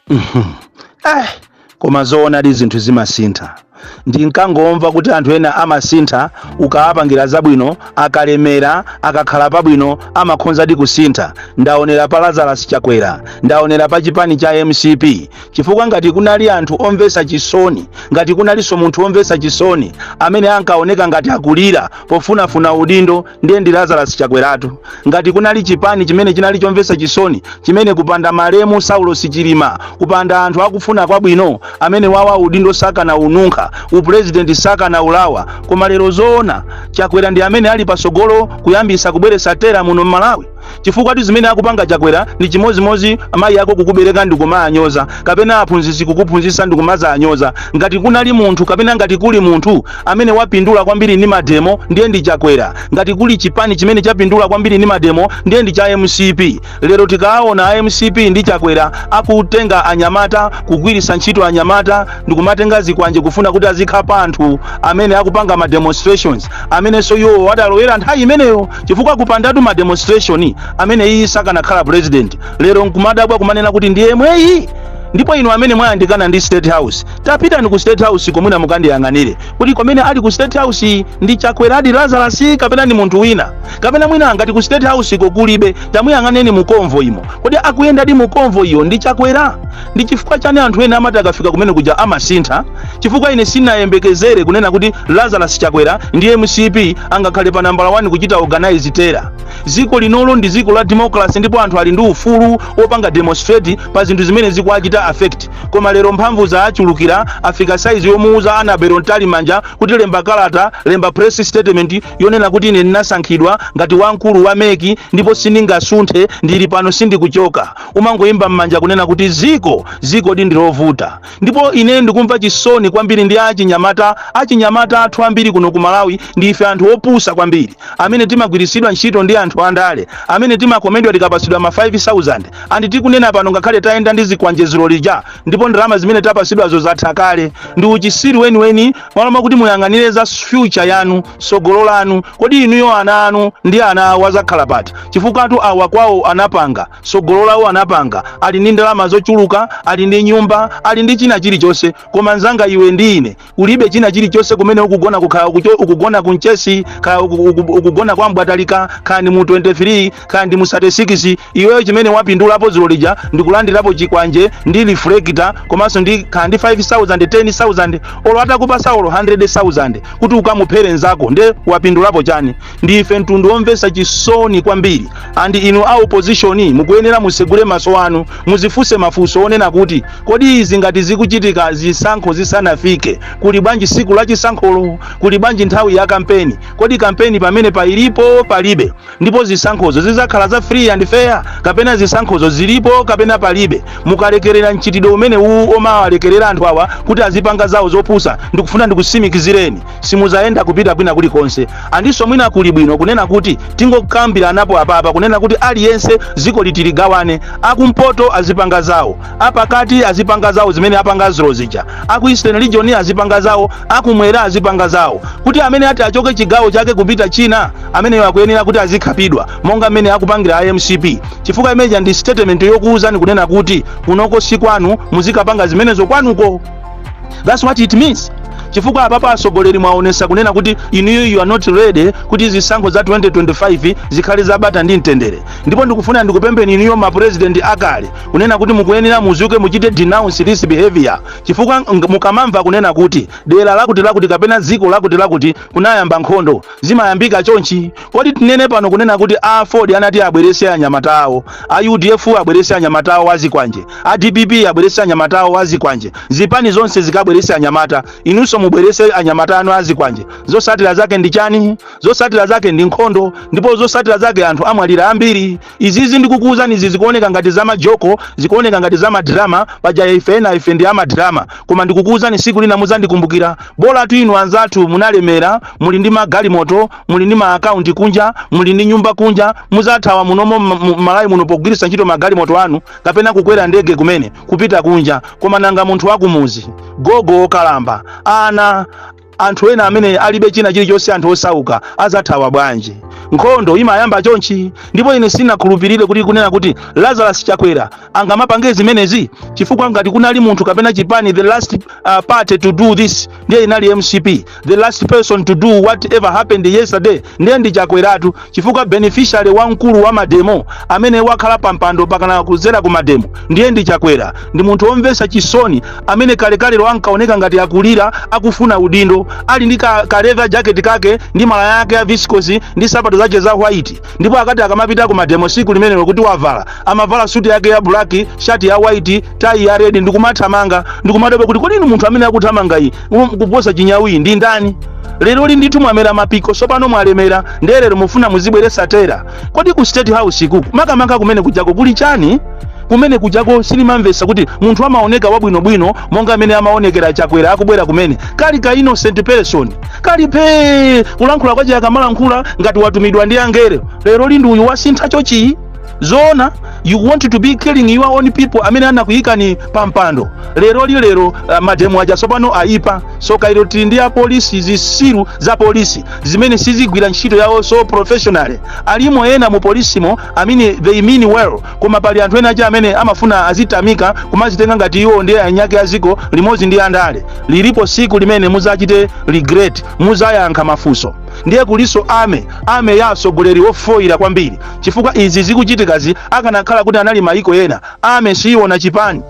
eh, koma zoonadi zinthu zimasintha ndinkangomva kuti anthu ena amasintha ukawapangira zabwino akalemera akakhala pabwino amakhonzadi kusintha ndaonera pa lazarus chakwera ndaonera pa chipani cha mcp chifukwa ngati kunali anthu omvetsa chisoni ngati kunalinso munthu omvetsa chisoni amene ankaoneka ngati akulira pofunafuna udindo ndiye ndi lazarus chakweratu ngati kunali chipani chimene chinali chomvetsa chisoni chimene kupanda malemu saulos chilima kupanda anthu akufuna kwabwino amene wawa udindo sakanaununkha upulezidenti sakanaulawa koma lero zoona chakwera ndi amene ali pasogolo kuyambisa kubweretsa terror muno m'malawi chifukwatu zimene akupanga chakwera ndi chimozimozi amayi ako kukubereka ndikumaanyoza kapena aphunzitsi kukuphunzitsa ndikumazaanyoza ngati kunali munthu kapena ngati kuli munthu amene wapindula kwambiri ndi mademo ndiye ndi chakwera ngati kuli chipani chimene chapindula kwambiri ndi mademo ndiye ndi cha mcp lero tikuona a mcp ndi chakwera akutenga anyamata kugwiritsa ntchito anyamata ndikumatenga zikwanje kufuna kuti azikhapa anthu amene akupanga ma demonstrations amenenso iwowo adalowera nthawi imeneyo chifukwa kupandatu ma demonstration ameneyi sakanakhala president lero nkumadabwa kumanena kuti ndi yemweyi ndipo inu amene mwayandikana ndi state house tapitani ku state house ko mwina mukandiyang'anire kuti kodi amene ali ku state house yi ndi chakweradi lazarus kapena ndi munthu wina kapena mwina ngati ku state house iko kulibe tamuyang'anani mu convoy imo kodi akuyendadi mu convoy iyo ndi chakwera Ndi chifukwa chani anthu ena amati akafika kumene kuja amasintha? Chifukwa ine sinayembekezere kunena kuti Lazarus Chakwera ndi mcp angakhale pa nambala wani kuchita organize terror. Dziko linolo ndi dziko la democracy ndipo anthu ali ndi ufulu wopanga demonstrate pa zinthu zimene zikuwachita affect. Koma lero mphamvu zaachulukira afika size yomuuza Annabel Mtalimanja kuti lemba kalata, lemba press statement yonena kuti ine ndinasankhidwa ngati wamkulu wa mec ndipo sindingasunthe ndili pano sindikuchoka. umangoomba mmanja kunena kuti dziko dzikodi ndilovuta ndipo ine ndikumva chisoni kwambiri ndi achinyamata achinyamata athu ambiri kuno ku malawi ndi ife anthu opusa kwambiri amene timagwiritsidwa ntchito ndi anthu andale amene timakomedwa tikapatsidwa ma 5000 and tikunena pano ngakhale tayenda ndi zikwanje dzulo lija ndipo ndalama zimene tapatsidwazo zatha kale ndi uchisiru weniweni malo mwakuti muyang'anire za future yanu sogolo lanu kodi inuyo ana anu ndi ana awo azakhala pati chifukwa anthu awa kwao anapanga sogolo lawo anapanga ali ndi ndalama zochuluka ali ndi nyumba ali ndi china chilichonse koma nzanga iwe ndi ine ulibe china chilichonse kumene ukugona kukhala ukucho- ukugona ku mchesi kaya uku- uku- ukugona kwa mbwatalika kaya ndi mu 23 kaya ndi mu 36 iweyo chimene wapindulapo dzulo lija ndikulandirapo chikwanje ndi reflector komanso ndi kaya ndi 5000 10000 olo atakupasa olo 100000 kuti ukamuphere nzako nde wapindulapo chani ndi ife mtundu omvesa chisoni kwambiri and inu a opposition mukuyenera musegule maso anu muzifunse mafunso onena kuti kodi izi ngati zikuchitika zisankho zisanafike kuli bwanji siku la chisankholo kuli bwanji nthawi ya kampeni kodi kampeni pamene pailipo palibe ndipo zisankhozo zizakhala za free and fair kapena zisankhozo zilipo kapena palibe mukalekerera mchitidwe umene uwu kumawalekerera anthu awa kuti azipanga zawo zopusa ndikufuna ndikusimikizireni simuzayenda kupita kwina kulikonse andinso mwina kuli bwino kunena kuti tingokambiranapo apapa kunena kuti aliyense ziko litiligawane akumpoto azipanga zawo apakati azipanga zawo zimene apanga dzulo zija aku eastern region azipanga zawo akumwera azipanga zawo kuti amene ati achoke chigawo chake kupita china ameneyo akuyenera kuti azikhapidwa monga mmene akupangira a mcp chifukwa imeja ndi statement yokuwuzani kunena kuti kunoko si kwanu muzikapanga zimenezo kwanuko thats what it means chifukwa apapa atsogoleri mwaonesa kunena kuti inuyo you are not ready kuti zisankho za 2025 zikhale zabata ndi mtendere ndipo ndikufuna ndikupembeni inuyo mapurezidenti akale kunena kuti mukuyenera muzuke muchite denounce this behavior chifukwa ng- mukamamva kunena kuti dera lakuti lakuti kapena dziko lakuti lakuti kunayamba nkhondo zimayambika chonchi kodi tinene pano kunena kuti a aford anati abwerese anyamata awo a udf abwerese anyamata awo azikwanje a dpp abwerese anyamata awo azikwanje zipani zonse zikabwerese anyamata inunso mubwerese anyamata anu azikwanje zosatira zake ndi chani zosatira zake ndi nkhondo ndipo zosatira zake anthu amwalira ambiri Izizi ndikukuuzani izi zikuoneka ngati za majoko, zikuoneka ngati za madrama, paja ife ena ife ndi amadrama. Koma ndikukuuzani siku lina muzandikumbukira. Bolatu inu anzathu munalemera, muli ndi magalimoto, muli ndi ma account kunja, muli ndi nyumba kunja, muzathawa munomo m- m- Malawi muno pogwiritsa ntchito magalimoto anu kapena kukwera ndege kumene kupita kunja. Koma nanga munthu wakumuzi, gogo okalamba, ana anthu ena amene alibe china chilichonse anthu osauka azathawa bwanji nkhondo imayamba chonchi ndipo ine sinakhulupirire kuti kunena kuti lazarus chakwera angamapange zimenezi chifukwa ngati kunali munthu kapena chipani the last uh, party to do this ndiye inali mcp the last person to do whatever happened yesterday ndiye ndi chakweratu chifukwa beneficiary wamkulu wa mademo amene wakhala pampando pakana kuzera ku mademo ndiye ndi chakwera ndi munthu omvesa chisoni amene kalekalelo ankaoneka ngati akulira akufuna udindo ali ndi ka, ka leather jacket kake ndi malaya yake ya viscose ndi sapato zache za white ndipo akati akamapita ku mademo siku limenelo kuti wavala amavala suti yake ya black shati ya white tai ya red ndikumathamanga ndikumadabwa kuti kodi inu munthu amene akuthamangayi Mu- kuposa chinyawi ndi ndani lero lino ndithu mwamera mapiko sopano mwalemera ndiye lero mufuna muzibweresa terror kodi ku state house uku makamaka kumene kujako kuli chani kumene kujako sindimamvesa kuti munthu amaoneka wabwinobwino monga mmene amaonekera chakwera akubwera kumene kali ka innocent person kali pee kulankhula kwake akamalankhula ngati watumidwa ndi angelo lero lino ndi uyu wasintha chochi zoona you want to be killing your own people amene anakuyikani pa mpando lero lino lero uh, mademo aja tsopano ayipa so kayiro tili ndi apolisi zisiru za polisi zimene sizigwira ntchito yawo so professional alimo ena mu polisimo amene they mean well koma pali anthu ena aja amene amafuna azitamikidwa kumazitenga ngati iwo ndiye eniake a ziko limodzi ndi andale lilipo siku limene muzachite regret muzayankha mafunso ndiye kuliso army army ya atsogoleri ofoyira kwambiri chifukwa izi zikuchitikazi akanakhala kuti anali maiko ena army siiona chipani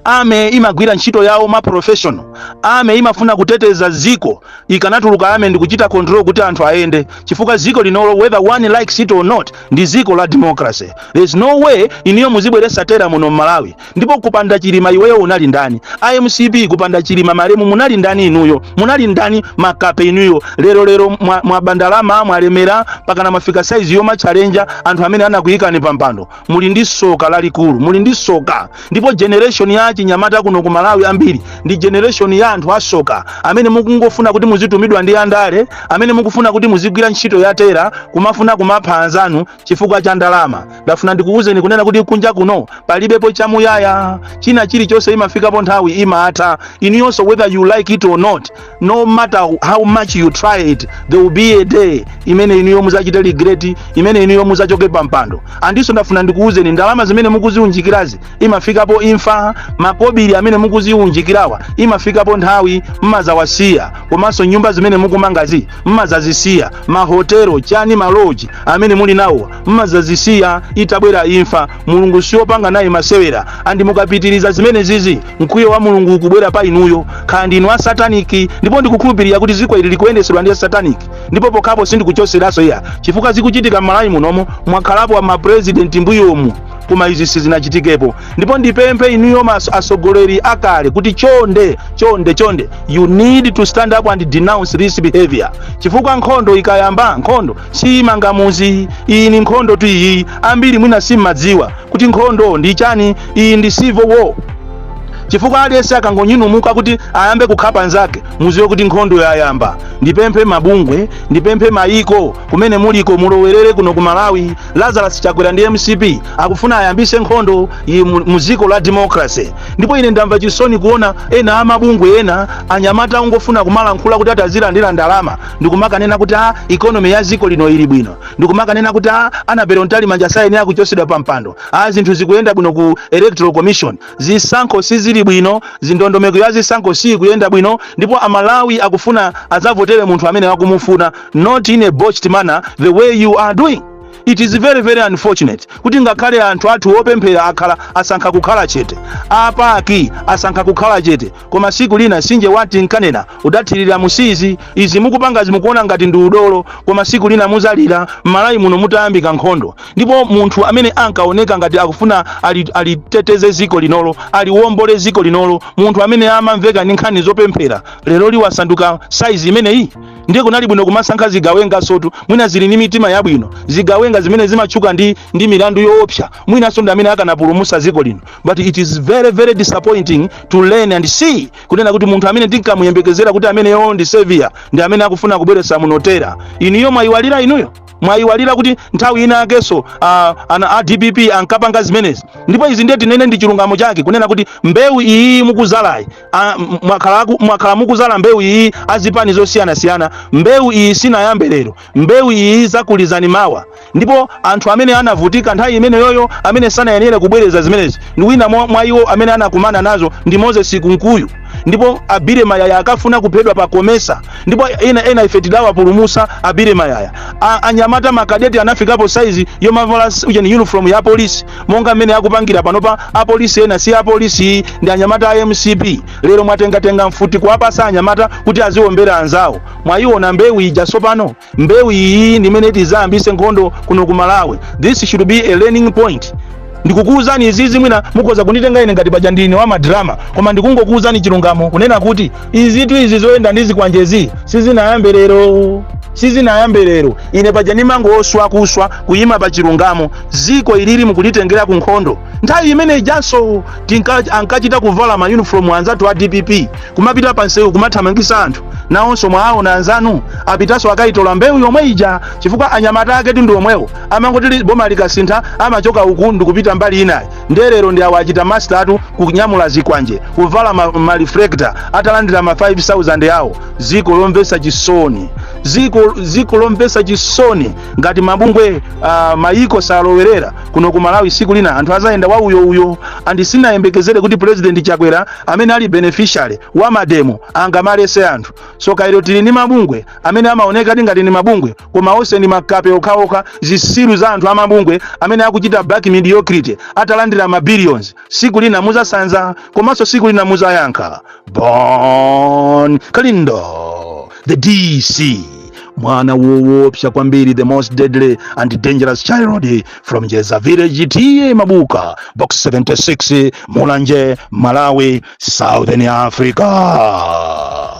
army imagwira ntchito yawo ma professional army imafuna kuteteza ziko ikanatuluka ame ndikuchita control kuti anthu ayende chifukwa ziko linolo whether one likes it or not ndi ziko la democracy there's no way inuyo muzibweresa terror muno mmalawi Ndipo kupanda chilima iweyo unali ndani? A mcp kupanda chilima malemu munali ndani inuyo? Munali ndani makape inuyo? Lero lero mwa, mwaba ndalama mwalemera pakana mafika size yoma challenge anthu amene anakuyikani pampando. Muli ndi soka lalikulu, muli ndi soka. Ndipo generation ya chinyamata kuno ku Malawi ambiri ndi generation ya anthu asoka amene mukungofuna kuti muzitumidwa ndi andale, amene mukufuna kuti muzigwira ntchito ya terror, kumafuna kumapha anzanu chifukwa cha ndalama ndafuna ndikuwuzeni kunena kuti kunja kuno palibepo chamuyaya china chilichonse imafikapo nthawi imatha inuyonso whether you like it or not no matter how much you try it there will be a day imene inuyo muzachite regret imene inuyo muzachoke pa mpando andiso ndafuna ndikuwuzeni ndalama zimene mukuziunjikirazi imafikapo imfa makobiri amene mukudziunjikirawa imafikapo nthawi mmazawasiya komanso nyumba zimene mukumangazi mmazazisiya mahotelo chani maloji amene muli nawowa mmazazisiya itabwera imfa mulungu siopanga naye masewera andi mukapitiriza zimenezizi mkwiyo wa mulungu ukubwera pa inuyo kaya ndinu a sataniki ndipo ndikukhulupirira kuti ziko ili likuyendesedwa ndi sataniki ndipo pokhapo sindikuchoseraso iya chifukwa zikuchitika m'malawi munomo mwakhalapo mapresident mbuyomu koma izi sizinachitikepo ndipo ndipemphe inuyo mas- atsogoleri akale kuti chonde chonde chonde you need to stand up and denounce this behavior chifukwa nkhondo ikayamba nkhondo siyimanga muzi iyi ndi nkhondotu iyi ambiri mwina simmadziwa kuti nkhondo ndi chani iyi ndi civil war chifukwa aliyense akangonyanyamuka kuti ayambe kukhapa nzake muziwe kuti nkhondo yayamba ndipemphe mabungwe ndipemphe mayiko kumene muliko mulowerere kuno ku malawi lazarus chakwera ndi mcp akufuna ayambise nkhondo iyi mu- mu dziko la democracy ndipo ine ndamva chisoni kuona ena amabungwe ena anyamata ongofuna kumalankhula kuti atazilandira ndalama ndikumakanena kuti a ikonomi ya dziko lino ili bwino ndikumakanena kuti a annabel mtalimanja sayenera kuchosedwa pa mpando a zinthu zikuyenda bwino ku electoral commission zisankho sizili bwino zindondomeko ya zisankho siikuyenda bwino ndipo amalawi akufuna azavotere munthu amene akumufuna not in a botched manner the way you are doing it is very very unfortunate kuti ngakhale anthu athu opemphera akhala asankha kukhala chete apaki asankha kukhala chete koma siku lina sinje watinkanena udathirira mu sizi izi mukupangazi mukuona ngati ndi udolo koma siku lina muzalira m'malawi muno mutayambika nkhondo ndipo munthu amene ankaoneka ngati akufuna ali- aliteteze ziko linolo aliwombole ziko linolo munthu amene amamveka ndi nkhani zopemphera lero ali wasanduka saizi imeneyi ndiye kunali bwino kumasankha zigawengazotu mwina zili ndi mitima yabwino zigawenga zimene zimatchuka ndi, ndi milandu yoopsa mwinanso ndi amene akanapulumusa dziko lino but it is very very disappointing to learn and see kunena kuti munthu amene tinkamuyembekezera kuti ameneyo ndi savior ndi amene akufuna kubweretsa munotera inuyo mwayiwalira inuyo mwayiwalira kuti nthawi ina yakenso ah, ana a dpp ankapanga zimenezi ndipo izi ndiye tinene ndi chilungamo chake kunena kuti mbewu iyi mukuzalayi a- m- mwakhala aku- mwakhala mukuzala mbewu iyi azipani zosiyanasiyana mbewu iyi sinayambe lero mbewu iyi izakulizani mawa ndipo anthu amene anavutika nthawi imeneyoyo amene sanayenere kubwereza zimenezi ndi wina mwa mwa iwo amene anakumana nazo ndi moses kunkuyu ndipo a billy mayaya ankafuna kuphedwa pa comesa ndipo ena ena ife tidawapulumusa a billy mayaya A- anyamata makadeti anafikapo saizi yomavala s- ujeni uniform ya polisi monga mmene akupangira panopa apolisi ena si apolisi ndi anyamata a mcp lero mwatengatenga mfuti kuwapasa anyamata kuti aziwombera anzawo mwayiona mbewu ija tsopano mbewu iyi ndi mmene tizayambise nkhondo kuno ku malawi this should be a learning point ndikukuwuzani izizi mwina mukhoza kunditenga ine ngati paja ndine wa madrama koma ndikungokuwuzani chilungamo kunena kuti izitu izi zoyenda ndi zikwanjezi sizinayambe lero sizinayambe lero ine paja ndimangoswa kuswa kuyima pa chilungamo ziko ilili mukulitengera ku nkhondo nthawi imene ijanso tinka- ankachita kuvala ma uniform anzathu a dpp kumapita pa nsewu kumathamangisa anthu nawonso mwawaona anzanu apitanso akayitola mbewu yomwe ija chifukwa anyamata ake ndi omwewo amangoti li- boma likasintha amachoka uku ndikupita mbali inayi nde lero ndi awa achita master kunyamula zikwanje kuvala ma, ma reflector atalandira ma 5000 awo ziko lomvesa chisoni ziko ziko lomvesa chisoni ngati mabungwe uh, mayiko salowererapo kuno ku malawi siku lina anthu azayenda wa uyo uyo and sindinayembekezere kuti president chakwera amene ali beneficiary wa mademo angamaletse anthu zoti lero tili ni mabungwe amene amaonekadi ngati ni mabungwe koma onse ndi makape okhaokha zisiru za anthu amabungwe amene akuchita back mediocrity atalandira ma billions siku lina muzasanza komanso siku lina muzayankha bon kalindo the dc mwana woopsa kwambiri the most deadly and dangerous child from jeza village ta mabuka box 76 mulanje malawi southern africa